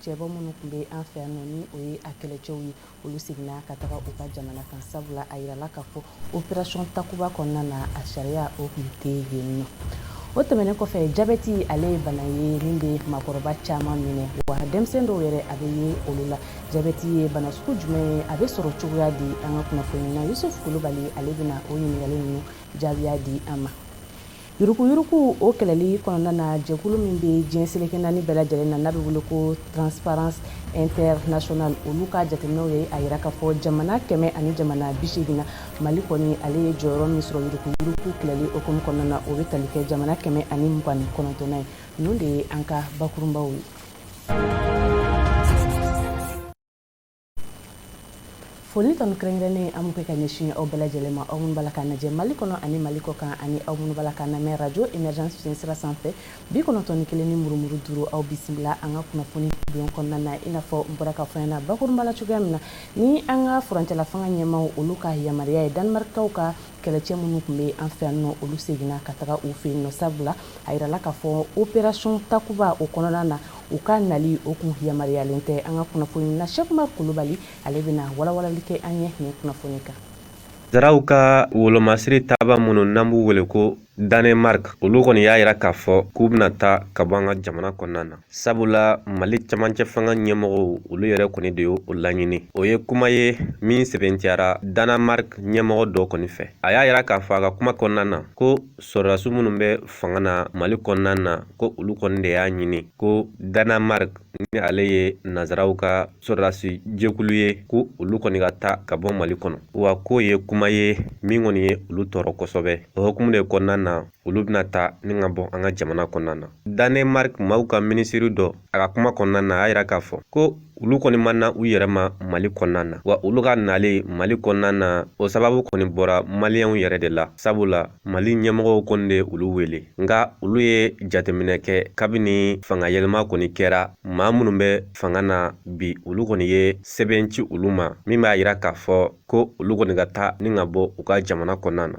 cɛbɔ minnu tun bɛ an fɛ yan ni o ye a kɛlɛcɛw ye olu seginna ka taga u ka jamana kan sabula a yirala k'a fɔ operation takuba kɔnɔna na a sariya o tun tɛ yen nɔ o tɛmɛnen kɔfɛ jabɛti ale ye bana ye min bɛ maakɔrɔba caman minɛ wa denmisɛn dɔw yɛrɛ a bɛ ye olu la jabɛti ye bana sugu jumɛn ye a bɛ sɔrɔ cogoya di an ka kunnafoni na yusuf kulubali ale bɛna o ɲininkali ninnu jaabiya di an ma Yuruguyurugu o kɛlɛli kɔnɔna na jɛkulu min bɛ diɲɛ seleke naani bɛɛ lajɛlen na n'a bɛ wele ko transparence international olu ka jateminɛw ye a yira k'a fɔ jamana kɛmɛ ani jamana bi seegin na mali kɔni ale ye jɔyɔrɔ min sɔrɔ yuruguyurugu kɛlɛli hukumu kɔnɔna na o bɛ tali kɛ jamana kɛmɛ ani mugan ni kɔnɔntɔnnan ye ninnu de ye an ka bakurunbaw ye foli tanu kɛrɛnkɛrɛnnen an b'o kɛ ka ɲɛsin aw bɛɛ lajɛlen ma aw minnu b'a la k'an lajɛ mali kɔnɔ ani mali kɔ kan ani aw minnu b'a la k'an lamɛn radio emergence fiɲɛ sira sanfɛ bi kɔnɔntɔn ni kelen ni murumuru duuru aw bisimila an ka kunnafoni bulon kɔnɔna na i n'a fɔ n bɔra k'a fɔ ɲɛna bakurunba la cogoya min na ni an ka furancɛla fanga ɲɛmaaw olu ka yamaruya ye danemarkaw ka kɛlɛcɛ minnu tun bɛ an fɛ yan nɔ olu seginna ka taga u fɛ yen nɔ sabula a yirala k'a fɔ operation takuba o kɔnɔna na u ka nali o tun yamaruyalen tɛ an ka kunnafoni na cheick oumar kulubali ale bɛna walawalali kɛ an ye nin kunnafoni kan Nazaraw ka wolomasiri taaba minnu n'an b'u wele ko Danemark olu kɔni y'a yira k'a fɔ k'u bɛna taa ka bɔ an ka jamana kɔnɔna na sabula Mali camancɛ fanga ɲɛmɔgɔw olu yɛrɛ kɔni de y'o laɲini o ye kuma ye min sɛbɛntiyara Danemark ɲɛmɔgɔ dɔ kɔni fɛ a y'a yira k'a fɔ a ka kuma kɔnɔna na ko sɔrɔdasiw minnu bɛ fanga na mali kɔnɔna na ko olu kɔni de y'a ɲini ko danemark ni ale ye nazaraw ka sɔrɔdasi jɛkulu ye ko olu kɔni ka taa ka bɔ mali kɔnɔ wa k'o ye kuma ye min kɔni ye olu tɔɔrɔ kosɛbɛ o hukumu de kɔnɔna na olu bɛna taa ni ka bɔ an ka jamana kɔnɔna na danemark maaw ka minisiri dɔ a ka kuma kɔnɔna na a y'a yira k'a fɔ ko olu kɔni ma na u yɛrɛ ma mali kɔnɔna na wa olu ka nali mali kɔnɔna na o sababu kɔni bɔra maliyɛnw yɛrɛ de la sabula mali ɲɛmɔgɔw kɔni de olu wele nka olu ye jateminɛ kɛ kabini fanga yɛlɛma kɔni kɛra maa minnu bɛ fanga na bi olu kɔni ye sɛbɛn ci olu ma min b'a yira k'a fɔ ko olu kɔni ka taa ni ka bɔ u ka jamana kɔnɔna na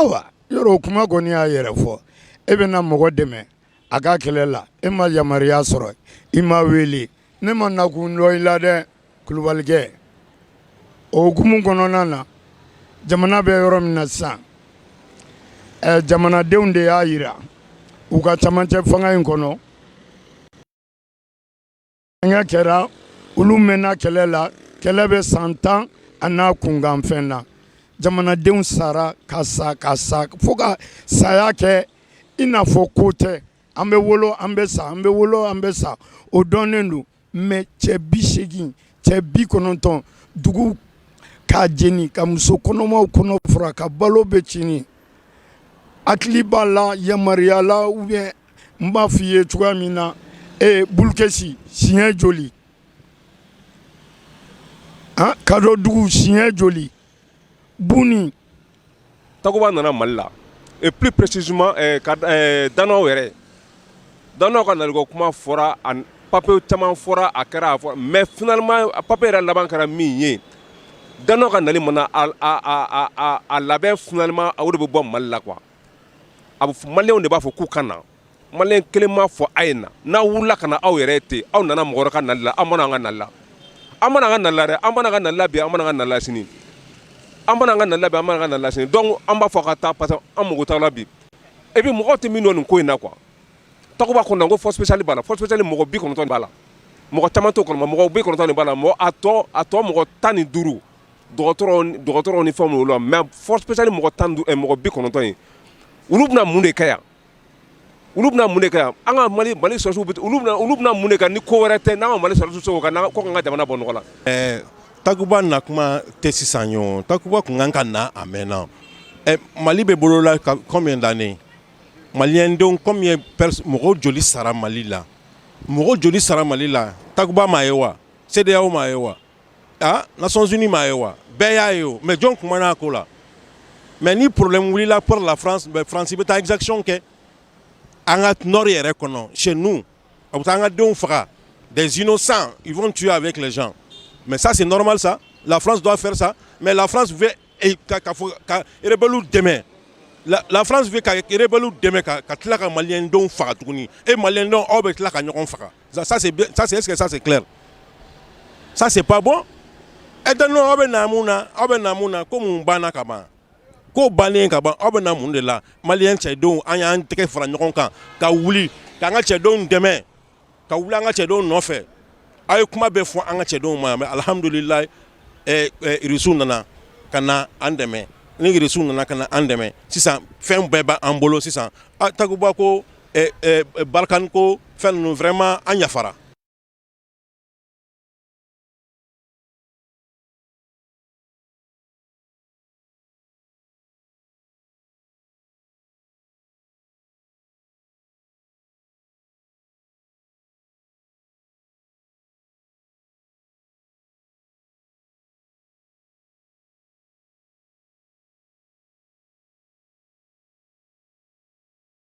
Awa yɔrɔ o kuma kɔni y'a yɛrɛ fɔ e bɛ na mɔgɔ dɛmɛ a ka kɛlɛ la e ma yamaruya sɔrɔ i ma wele ne ma nakun dɔn i la dɛ kulubalikɛ o hukumu kɔnɔna na jamana bɛ yɔrɔ min na sisan ɛ jamanadenw de y'a yira u ka camancɛ fanga in kɔnɔ Fɛngɛ kɛra olu mɛnna kɛlɛ la kɛlɛ bɛ san tan a n'a kunkanfɛn na jamanadenw sara ka sa ka sa fo ka saya kɛ i n'a fɔ ko tɛ an bɛ wolo an bɛ sa an bɛ wolo an bɛ sa o dɔnnen don mais cɛ bi seegin cɛ bi kɔnɔntɔn dugu k'a jeni ka muso kɔnɔmaw kɔnɔ fara ka balo bɛɛ tiɲɛn hakili b'a la yamaruyayala u bɛ N b'a fɔ i ye cogoya min na ee bulukɛsi siɲɛ joli aa kadɔdugu siɲɛ joli bon takuba nana mali la et plus précisément danois yɛrɛ danois ka nali ko kuma fɔra ani papier caman fɔra a kɛra a fɔ mais finalement papier yɛrɛ laban kɛra min ye danois ka nali mana a labɛn finalement o de bɛ bɔ mali la quoi a bɛ malienw de b'a fɔ k'u ka na malien kelen m'a fɔ a ye na n'aw wulila ka na aw yɛrɛ ten aw nana mɔgɔ wɛrɛ ka nali la aw ma na an ka nali la aw ma na an ka nali la dɛ aw ma na an ka nali la bi aw ma na an ka nali la sini aw ma na an ka nali la aw ma na an ka nali la sini donc an b'a fɔ ka taa parce que an mago t'a la bi et puis mɔgɔw tɛ min dɔn nin ko in na quoi takuba kɔnɔ ko force spéciale b'a la force spéciale mɔgɔ bi kɔnɔntɔn b'a la mɔgɔ caman t'o kɔnɔ mɔgɔ bi kɔnɔntɔn b'a la mɔgɔ a tɔ a tɔ mɔgɔ tan ni duuru dɔgɔtɔrɔw ni fɛnw la mais force spéciale mɔgɔ tan mɔgɔ bi kɔnɔntɔn in olu bɛna mun de kɛ yan olu bɛna mun kɛ an ka mali mali sɔrɔsiw olu bɛna mun kɛ ni ko wɛrɛ tɛ n'an ka mali sɔrɔsiw se k'o kɛ ka jamana bɔ nɔgɔ la ɛɛ takuba na kuma tɛ sisan yo takuba tun kan ka na a mɛnna mali bɛ bolo la combien d'années maliendenw combien mɔgɔw joli sara mali la mɔgɔ joli sara mali la takuba m'a ye wa CEDEAO m'a ye wa aa Nations Unies m'a ye wa bɛɛ y'a ye o mais jɔn kumana a ko la mais ni problème wulila pour la France ben France bɛ taa exaction kɛ an ka nord yɛrɛ kɔnɔ chez nous a bɛ taa an ka denw faga des innocents ils vont tuer avec les gens mais ça c'est normal ça la France doit faire ça mais la France veut ka ka fɔ ka rebelles dɛmɛ, la France veut ka rebelles dɛmɛ ka ka tila ka malien denw faga tuguni et malien denw aw bɛ tila ka ɲɔgɔn faga ça c'est est-ce que ça c'est ça c'est pas bon et donc aw bɛ na mun na aw bɛ na mun na ko mun banna ka ban ko bannen ka ban aw bɛ na mun de la mali cɛdenw an y'an tɛgɛ fara ɲɔgɔn kan ka wuli ka an ka cɛdenw dɛmɛ ka wuli an ka cɛdenw nɔfɛ aw ye kuma bɛɛ fɔ an ka cɛdenw ma yan mais alihamdulilahi irisiw eh, eh, nana ka na an dɛmɛ ni irisiw nana ka na an dɛmɛ sisan fɛn bɛɛ b'an bolo sisan a takuba ko Barkhane ko fɛn ninnu vraiment an yafara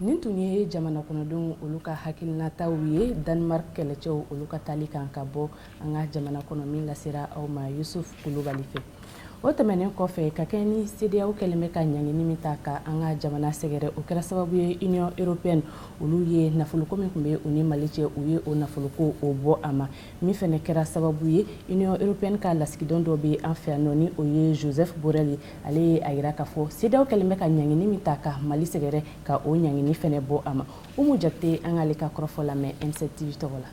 nin tun ye jamana kɔnɔdenw olu ka hakilinataw ye Danemark kɛlɛcɛw olu ka taali kan ka bɔ an ka jamana kɔnɔ min lasera aw ma yusuf kulubali fɛ o tɛmɛnen kɔfɛ ka kɛɲɛ ni CEDEAO kɛlen bɛ ka ɲangini min ta ka an ka jamana sɛgɛrɛ o kɛra sababu ye Union Européenne olu ye nafoloko min tun bɛ u ni mali cɛ u ye o nafoloko o bɔ a ma min fɛnɛ kɛra sababu ye Union Européenne ka lasigiden dɔ bɛ an fɛ yan ni o ye Josep Borrell ye ale ye a yira k'a fɔ CEDEAO kɛlen bɛ ka ɲangini min ta ka mali sɛgɛrɛ ka o ɲangini fɛnɛ bɔ a ma umu jakite an k'ale ka kɔrɔfɔ lamɛn M7 TV tɔgɔ la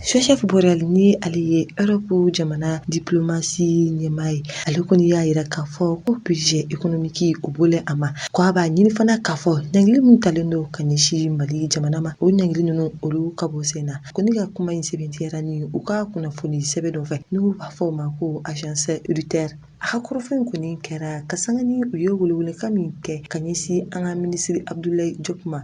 Josep Borrell ni ale ye Erɔpu jamana diplomasi ɲɛmaa ye ale kɔni y'a yira k'a fɔ ko budget économique o bɔlen a ma ko a b'a ɲini fana k'a fɔ ɲangili min talen don ka ɲɛsin mali jamana ma o ɲangili ninnu olu ka bɔ sen na ko ne ka kuma in sɛbɛntiyara ni u ka kunnafoni sɛbɛn dɔ fɛ n'u b'a fɔ o ma ko agence Reuters a ka kɔrɔfɔ in kɔni kɛra ka sanga ni u ye welewelekan min kɛ ka ɲɛsin an ka minisiri Abdoulaye Diop ma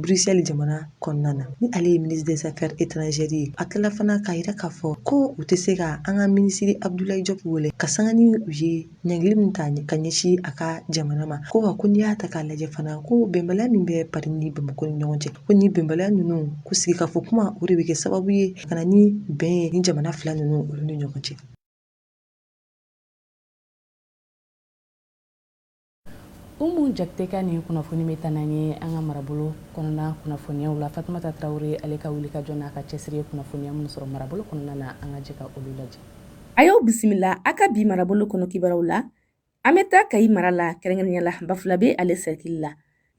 Bruxelles jamana kɔnɔna na ni ale ye ministre des affaires étrangères ye a tilala fana k'a yira k'a fɔ ko u tɛ se ka an ka minisiri Abdoulaye Diop wele ka sanga ni u ye ɲangili min ta ka ɲɛsin a ka jamana ma ko wa ko n'i y'a ta k'a lajɛ fana ko bɛnbaliya min bɛ Paris ni Bamakɔ ni ɲɔgɔn cɛ ko ni bɛnbaliya ninnu ko sigikafɔ kuma o de bɛ kɛ sababu ye ka na ni bɛn ye ni jamana fila ninnu olu ni ɲɔgɔn cɛ umu jakite ka nin kunnafoni bɛ taa n'an ye an ka marabolo kɔnɔna kunnafoniyaw la fatumata tarawele ale ka wuli ka jɔ n'a ka cɛsiri ye kunnafoniya minnu sɔrɔ marabolo kɔnɔna na an ka jɛ ka olu lajɛ a y'aw bisimila a ka bi marabolo kɔnɔ kibaruw la an bɛ taa kayi mara la kɛrɛnkɛrɛnnenya la bafulabe ale sɛrikili la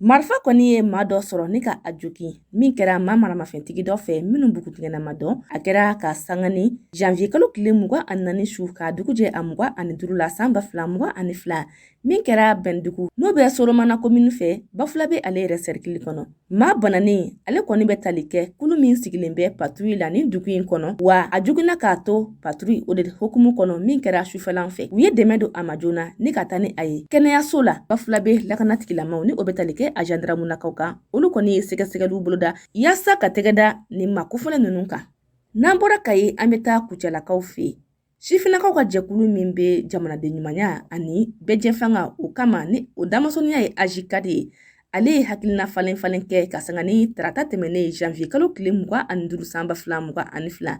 marifa kɔni ye maa dɔ sɔrɔ ni ka a jogin min kɛra maa maramafɛntigi dɔ fɛ minnu bugutigɛna ma dɔn a kɛra ka sanga ni janvier kalo tile mugan ani naani su ka dugu jɛ a mugan ani duru la san ba fila mugan ani fila min kɛra bɛndugu n'o bɛ soromana komini fɛ bafulabe ale yɛrɛ sɛrikili kɔnɔ maa bananen ale kɔni bɛ tali kɛ kulu min sigilen bɛ patrouille la ni dugu in kɔnɔ wa a joginna k'a to paturu o de hukumu kɔnɔ min kɛra sufɛlan fɛ u ye dɛmɛ don a ma joona ni ka taa ni a ye kɛnɛyaso la bafulabe lakanatigilamaw ni o be tali kɛ a jandaramulakaw kan olu kɔni ye sɛgɛsɛgɛliw boloda yaasa ka tɛgɛda nin maa kofɔlen nunu kan n'an bɔra kayi an be taa kucalakaw fɛ sifinnakaw ka jɛkulu min be jamanaden ɲumanya ani bɛɛjɛfanga o kama ni o damasɔniya ye ajikadi ye ale ye hakilina falen falen kɛ ka sanga ni tarata tɛmɛnen janvier kalo tile mugan ani duuru san ba fila mugan ani fila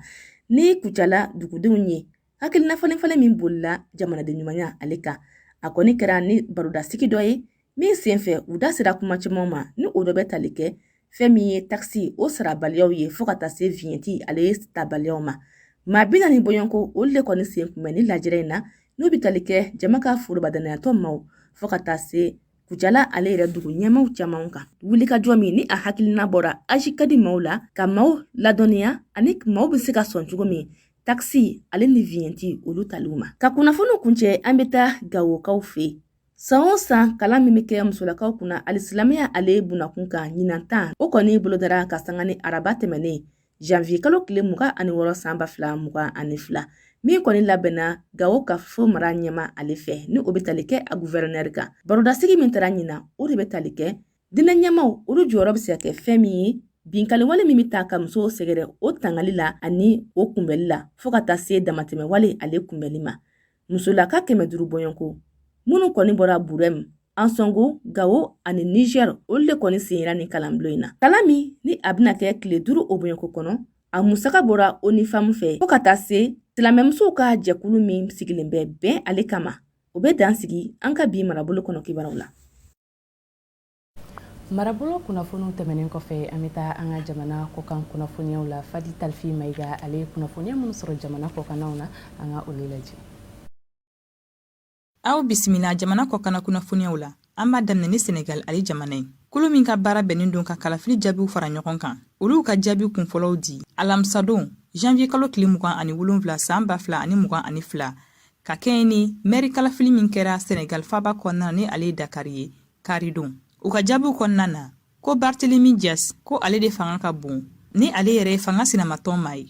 ni kucala dugudenw ye hakilina falen falen min bolila jamanaden ɲumanya ale kan a kɔni kɛra ni barodasigi dɔ ye min senfɛ u da sera kuma caman ma ni o dɔ bɛ tali kɛ fɛn min ye takisi o sarabaliyaw ye fɔɔ ka taa se viɲɛti ale ye tabaliyaw ma maa bi naani bɔɲɔgɔnko olu le kɔni sen kunbɛn ni lajɛrɛ in na n'u bi tali kɛ jama ka forobadanayatɔ maw fɔɔ ka taa se Kucala ale yɛrɛ dugu ɲɛmaaw caman kan wulikajɔ min ni a hakilina bɔra ajikadi maaw la ka maaw ladɔnniya ani maaw bɛ se ka sɔn cogo min takisi ale ni viɲɛti olu taliw ma ka kunnafoniw kuncɛ an bɛ taa gawokaw fɛ san o san kalan min bɛ kɛ musolakaw kunna alisilamɛya ale bunnakun kan ɲinan ta o kɔni bolodara ka sanga ni araba tɛmɛnen janvier kalo tile mugan ani wɔɔrɔ san ba fila mugan ani fila min kɔni labɛnna gawo kafo mara ɲɛmaa ale fɛ ni o bɛ tali kɛ a guvɛrɛnɛri kan barodasigi min tara ɲinan o de bɛ tali kɛ diinɛ ɲɛmaaw olu jɔyɔrɔ bɛ se ka kɛ fɛn min ye binkaliwale min bɛ taa ka musow sɛgɛrɛ o tangali la ani o kunbɛli la fɔɔ ka taa se damatɛmɛwale ale kunbɛli ma musolaka kɛmɛ duuru bɔɲɔgɔnko minnu kɔni bɔra burɛm ansɔngo gawo ani nizɛr olu de kɔni senyera nin kalanbulon in na kalan min ni a bɛna kɛ tile duuru o bɔɲɔgɔnko kɔnɔ a musaka bɔra onifamu fɛ fɔɔ ka taa se silamɛmusow ka jɛkulu min sigilen bɛ bɛn ale kama o bɛ dan sigi an ka bi marabolo kɔnɔ kibaruw la marabolo kunnafoniw tɛmɛnen kɔfɛ an bɛ taa an ka jamana kɔkan kunnafoniyaw la fadi talifi mayiga ale ye kunnafoniya minnu sɔrɔ jamana kɔkannaw na an ka olu lajɛ aw bisimila jamana kɔkanna kunnafoniyaw la an b'a daminɛ ni senegal ale jamana ye kulu min ka baara bɛnnen don ka kalafili jaabiw fara ɲɔgɔn kan olu ka jaabi kunfɔlɔw di alamisadon janvier kalo tile mugan ani wolonfila san ba fila ani mugan ani fila ka kɛɲɛ ni mɛri kalafili min kɛra senegal faaba kɔnɔna ni ale ye dakari ye kari don u ka jaabiw kɔnɔna na ko barthélémy dias ko ale de fanga ka bon ni ale yɛrɛ ye fanga sinamatɔn maa ye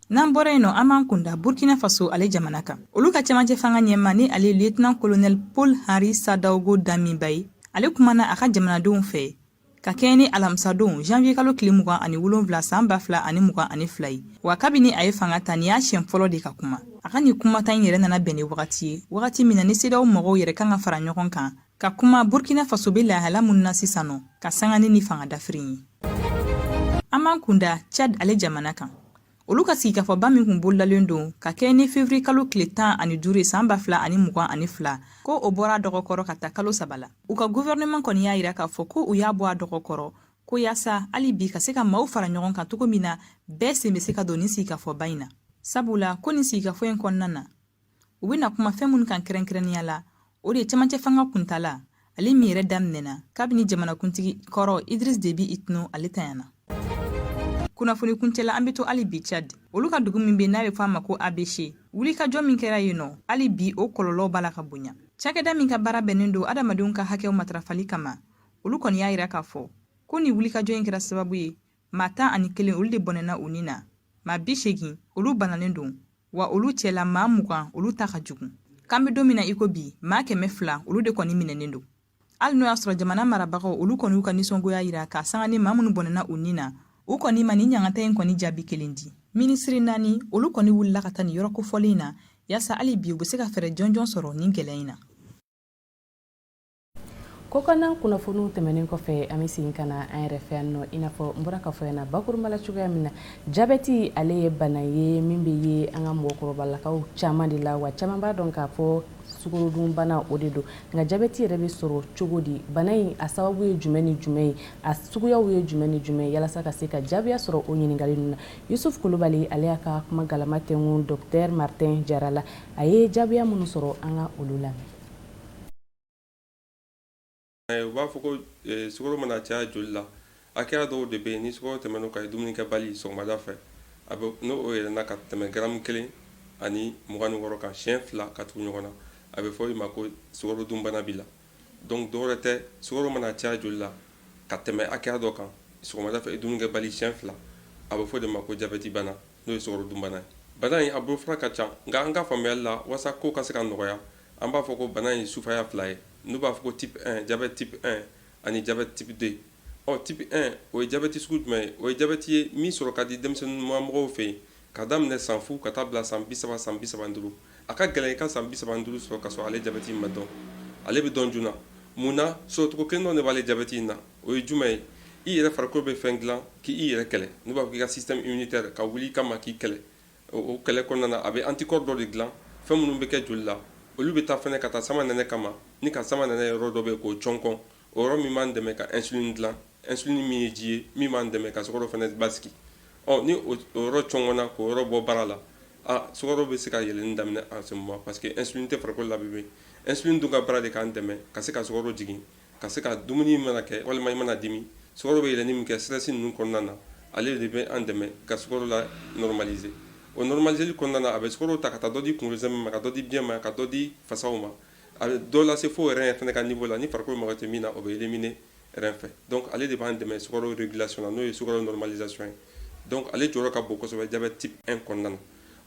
n'an bɔra yen nɔ an b'an kunda burkina faso ale jamana kan olu ka cɛmancɛ fanga ɲɛmaa ni ale lieutenant colonel paul henri sandaogo damiba ye ale kumana a ka jamanadenw fɛ ka kɛɲɛ ni alamisadon janvier kalo tile mugan ani wolonfila san ba fila ani mugan ani fila ye wa kabini a ye fanga ta ni y'a siɲɛ fɔlɔ de ka kuma a ka nin kumata in yɛrɛ nana bɛn ni wagati ye wagati min na ni cedeao mɔgɔw yɛrɛ kan ka fara ɲɔgɔn kan ka kuma burkina faso be lahala min na sisan nɔ ka sanga ni ni fanga dafirin ye an b'an kunda tchad ale jamana kan olu ka sigikafɔba min kun bolodalen don ka kɛ ni fevriye kalo tile tan ani duuru san ba fila ani mugan ani fila ko o bɔra a dɔgɔkɔrɔ ka taa kalo saba la u ka guvɛrɛnɛman kɔni y'a yira k'a fɔ ko u y'a bɔ a dɔgɔkɔrɔ ko yaasa hali bi ka se ka maaw fara ɲɔgɔn kan cogo min na bɛɛ sen be se ka don nin sigikafɔba in na sabula ko nin sigikafɔ in kɔnɔna na u bɛna kuma fɛn minnu kan kɛrɛnkɛrɛnnenya la o de ye cɛmancɛ fanga kuntala ale min yɛrɛ daminɛna kabini jamanakuntigi kɔrɔ idris debi itno ale tanyana kunnafoni kuncɛla an be to hali bi chad olu ka dugu min be n'a be fɔ a ma ko abeche wulikajɔ min kɛra yen nɔ hali bi o kɔlɔlɔ b'a la ka bonya cakɛda min ka baara bɛnnen don adamadenw ka hakɛw matarafali kama olu kɔni y'a yira k'a fɔ ko nin wulikajɔ in kɛra sababu ye Maa tan ani kelen olu de bɔnɛna u ni na maa bi segin olu bananen don wa olu cɛla maa mugan olu ta ka jugu k'an bɛ don min na iko bi maa kɛmɛ fila olu de kɔni minɛnen don hali n'o y'a sɔrɔ jamana marabagaw olu kɔni y'u ka nisɔngoya yira ka sanga ni maa minnu bɔnɛna u ni na u kɔni ma nin ɲangata in kɔni jaabi kelen di minisiri naani olu kɔni wulila ka taa nin yɔrɔ kofɔlen in na yaasa hali bi u bɛ se ka fɛɛrɛ jɔnjɔn sɔrɔ nin gɛlɛya in na kɔkanna kunnafoniw tɛmɛnen kɔfɛ an bɛ segin ka na an yɛrɛ fɛ yan nɔ i n'a fɔ n bɔra k'a fɔ yan na bakurunba la cogoya min na jabɛti ale ye bana ye min bɛ ye an ka mɔgɔkɔrɔbalakaw caman de la wa caman b'a dɔn k'a fɔ sukorodunbana o de don nka jabɛti yɛrɛ bɛ sɔrɔ cogo di bana in a sababu ye jumɛn ni jumɛn ye a suguyaw ye jumɛn ni jumɛn yalasa ka se ka jaabiya sɔrɔ o ɲininkali ninnu na yusuf kulubali ale y'a ka kuma galama tɛnku dɔktɛr martin jara la a ye jaabiya minnu sɔrɔ an ka olu lamɛn U b'a fɔ ko sukaro mana caya joli la hakɛya dɔw de bɛ yen ni sukaro tɛmɛna o kan i dumunikɛbali sɔgɔmada fɛ a n'o yɛlɛnna ka tɛmɛ garamu kelen ani mugan ni wɔɔrɔ kan siyɛn fila ka tugu ɲɔgɔn na a bɛ fɔ i ma ko sukaro dunbana b'i la donc dɔwɛrɛ tɛ sukaro mana caya joli la ka tɛmɛ hakɛya dɔ kan sɔgɔmada fɛ i dumunikɛbali siyɛn fila a bɛ fɔ o de ma ko jabɛti bana n'o ye sukaro dunbana ye. Bana in a bolofara ka ca, nka an ka faamuyali la, walasa kow ka se ka nɔgɔya, an b'a fɔ ko bana in ye sufaya fila ye, n'u b'a fɔ ko type 1, jabɛti type 1, ani jabɛti type 2. Ɔ, type 1, o ye jabɛti sugu jumɛn ye? O ye jabɛti ye min sɔrɔ ka di denmisɛnninma mɔgɔw fɛ yen, k'a daminɛ san fu ka taa bila san bi saba, san bi saba ni duuru. a ka gɛlɛn i ka san bi saba ni duuru sɔrɔ ka sɔrɔ ale jabɛti in ma dɔn ale bɛ dɔn joona mun na sɔrɔcogo kelen dɔ de b'ale jabɛti in na o ye jumɛn ye i yɛrɛ farikolo bɛ fɛn dilan k'i yɛrɛ kɛlɛ n'u b'a fɔ k'i ka système immunitaire ka wuli i kama k'i kɛlɛ o kɛlɛ kɔnɔna na a bɛ anticorps dɔ de dilan fɛn minnu bɛ kɛ joli la olu bɛ taa fɛnɛ ka taa samanɛnɛ kama ni ka samanɛnɛ yɔrɔ dɔ bɛ k'o cɔnkɔn o yɔrɔ min b'an dɛmɛ ka insuline dilan insuline min ye ji ye min b'an dɛmɛ ka sukaro fana basigi ɔ ni o yɔrɔ cɔngɔnna k'o yɔrɔ bɔ baara la a sukaro bɛ se ka yɛlɛnni daminɛ en ce moment parce que insuline tɛ farikolo la bilen insuline dun ka baara de k'an dɛmɛ ka se ka sukaro jigin ka se ka dumuni mana kɛ walima i mana dimi sukaro bɛ yɛlɛnni min kɛ stress ninnu kɔnɔna na ale de bɛ an dɛmɛ ka sukaro la normaliser o normaliseli kɔnɔna na a bɛ sukaro ta ka taa dɔ di kunkolo sɛmɛ ma ka dɔ di biɲɛ ma ka dɔ di fasaw ma A bɛ dɔ lase fo rein fana ka niveau la ni farikolo mago tɛ min na o bɛ éliminer rein fɛ donc ale de b'an dɛmɛ sukaro régulation na n'o ye sukaro normalisation ye donc ale jɔyɔrɔ ka bon kɔsɛbɛ jabɛti type 1 kɔnɔna na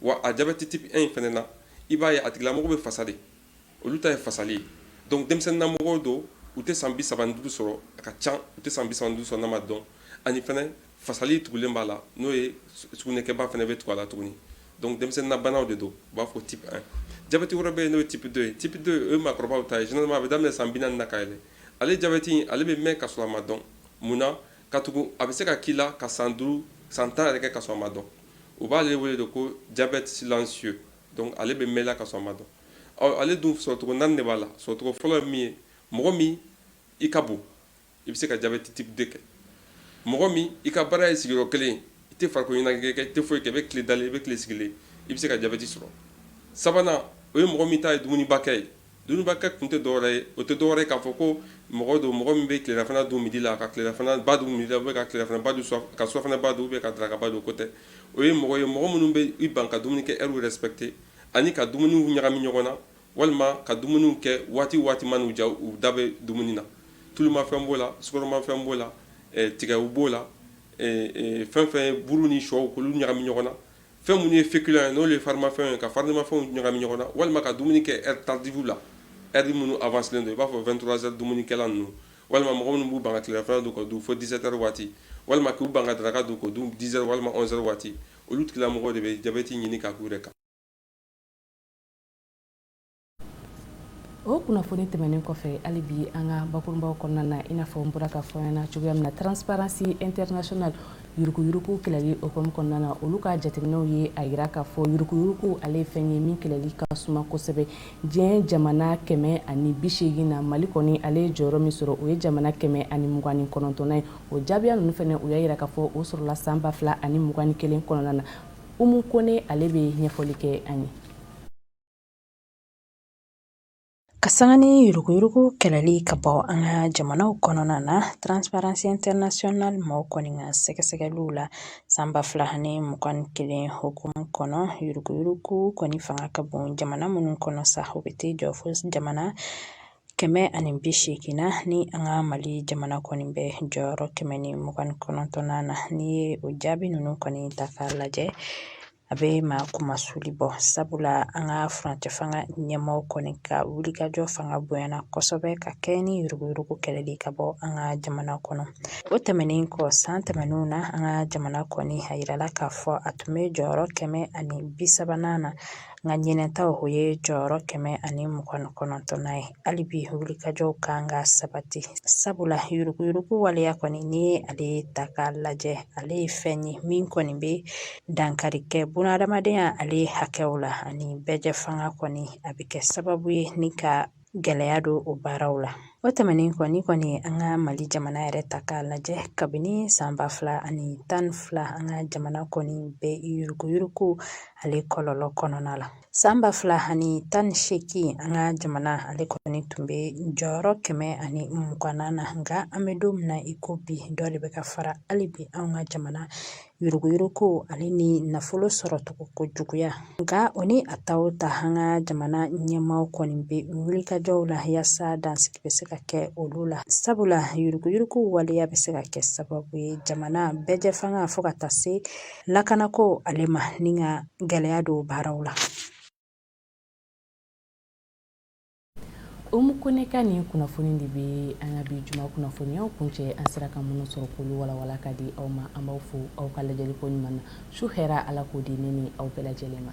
wa a jabɛti type 1 in fana na i b'a ye a tigilamɔgɔ bɛ fasa de olu ta ye fasali ye donc denmisɛnninnamɔgɔw don u tɛ san bi saba ni duuru sɔrɔ a ka ca u tɛ san bi saba ni duuru sɔrɔ n'a ma dɔn ani fana Fasali tugulen b'a la n'o ye sugunɛkɛba fana bɛ tugu a la tuguni donc denmisɛnninnabanaw de don u b'a fɔ type 1, jabɛti wɛrɛ bɛ yen n'o ye type 2 ye, type 2 o ye maakɔrɔbaw ta ye généralement a bɛ daminɛ san 40 na ka yɛlɛ, ale jabɛti in ale bɛ mɛn ka sɔrɔ a ma dɔn, mun na? katugu a bɛ se ka k'i la ka san 5, san 10 yɛrɛ kɛ ka sɔrɔ a ma dɔn, u b'ale wele de ko diabète silencieux, donc ale bɛ mɛn i la ka sɔrɔ a ma dɔn, ɔ ale dun sɔrɔcogo 4 de b'a la, sɔrɔcogo fɔlɔ ye min ye, mɔgɔ min i ka bon. I bɛ se ka jabɛti type 2 kɛ mɔgɔ min i ka baara ye sigiyɔrɔ kelen i tɛ farikolo ɲɛnajɛ kɛ i tɛ foyi kɛ i bɛ tile dalen i bɛ tile sigilen i bɛ se ka jabɛti sɔrɔ sabanan o ye mɔgɔ min ta ye dumunibakɛ ye dumunibakɛ kun tɛ dɔwɛrɛ ye o tɛ dɔwɛrɛ ye k'a fɔ ko mɔgɔ don mɔgɔ min bɛ tilelafana dun midi la ka tilelafana ba dun midi la ou bien ka tilelafana ba dun ka surafana ba dun ou bien ka daraka ba dun o ko tɛ o ye mɔgɔ ye mɔgɔ minnu bɛ i ban ka dumunikɛ heure respecter ani ka dumuniw ɲagami ɲɔgɔn na walima ka dumuniw kɛ waati waati man ja u da bɛ dumuni na tulumafɛn b'o la sukaromafɛn b'o la tigɛw b'o la fɛn fɛn ye buru ni shɔ k'olu ɲagami ɲɔgɔn na fɛn minnu ye féculents ye n'o ye farimafɛn ye ka farimafɛnw ɲagami ɲɔgɔn na walima ka dumuni kɛ heure tardive la heure minnu avancelen don i b'a fɔ 23 heures dumunikɛla ninnu walima mɔgɔ minnu b'u ban ka tilelafana dun k'o dun fo 17 heures waati walima k'u ban ka daraka dun k'o dun 10 heures walima 11 heures waati olu tigilamɔgɔw de bɛ jabɛti ɲini ka k'u yɛrɛ kan o kunnafoni tɛmɛnen kɔfɛ hali bi an ka bakurunbaw kɔnɔna na i n'a fɔ n bɔra k'a fɔ aw ɲɛna cogoya min na transparency international yuruguyurugu kɛlɛli hukumu kɔnɔna na olu ka jateminɛw ye a jira k'a fɔ yuruguyurugu ale ye fɛn ye min kɛlɛli ka suma kosɛbɛ diɲɛ jamana kɛmɛ ani bi seegin na mali kɔni ale ye jɔyɔrɔ min sɔrɔ o ye jamana kɛmɛ ani mugan ni kɔnɔntɔnnan ye o jaabiya ninnu fana u y'a jira k'a fɔ o sɔrɔla san ba fila ani mugan ni kelen kɔnɔna na umu kone ale bɛ ɲɛfɔli kɛ an ye Ka sanga ni yuruguyurugu kɛlɛli ka bɔ an ka jamanaw kɔnɔna na transparency international mɔgɔw kɔni ka sɛgɛsɛgɛliw la san ba fila ani mugan ni kelen hukumu kɔnɔ yuruguyurugu kɔni fanga ka bon jamana minnu kɔnɔ sa o bɛ t'i jɔ fo jamana kɛmɛ ani bi seegin na ni an ka mali jamana kɔni bɛ jɔyɔrɔ kɛmɛ ni mugan ni kɔnɔntɔnnan na n'i ye o jaabi ninnu kɔni ta k'a lajɛ a bɛ maa kunmasuli bɔ sabula an ka furancɛ fanga ɲɛmaaw kɔni ka wulikajɔ fanga bonyana kosɛbɛ ka kɛɲɛ ni yuruguyurugu kɛlɛli ka bɔ an ka jamana kɔnɔ o tɛmɛnen kɔ san tɛmɛnenw na an ka jamana kɔni a yirala k'a fɔ a tun bɛ jɔyɔrɔ kɛmɛ ani bi sabanan na nka ɲinɛ ta o ye jɔyɔrɔ kɛmɛ ani mugan kɔnɔntɔnnan ye hali bi wulikajɔw kan ka sabati sabula yuruguyurugu waleya kɔni n'i ye ale ta k'a lajɛ ale ye fɛn ye min kɔni bɛ dankari kɛ bunahadamadenya ale hakɛw la ani bɛɛjɛ fanga kɔni a bɛ kɛ sababu ye ni ka gɛlɛya don o baaraw la o tɛmɛnen kɔ n'i kɔni an ka mali jamana yɛrɛ ta k'a lajɛ kabini san ba fila ani tan ni fila an ka jamana kɔni bɛ yuruguyurugu ale kɔlɔlɔ kɔnɔna la san ba fila ani tan ni seegin an ka jamana ale kɔni tun bɛ jɔyɔrɔ kɛmɛ ani mugannan na nka an bɛ don min na i ko bi dɔ de bɛ ka fara hali bi an ka jamana yuruguyuruguko ale ni nafolo sɔrɔcogo ko juguya nka o ni a ta o ta an ka jamana ɲɛmaaw kɔni bɛ wulikajɔw la yaasa dansigi bɛ se ka kɛ olu la sabula yuruguyuruguko waleya bɛ se ka kɛ sababu ye jamana bɛɛjɛ fanga fo ka taa se lakanako ale ma ni ka gɛlɛya don baaraw la Umu Kone ka nin kunnafoni de bɛ an ka bi juma kunnafoniyaw kuncɛ an sera ka minnu sɔrɔ k'olu walawala ka di aw ma an b'aw fo aw ka lajɛli ko ɲuman na su hɛra ala k'o di ne ni aw bɛɛ lajɛlen ma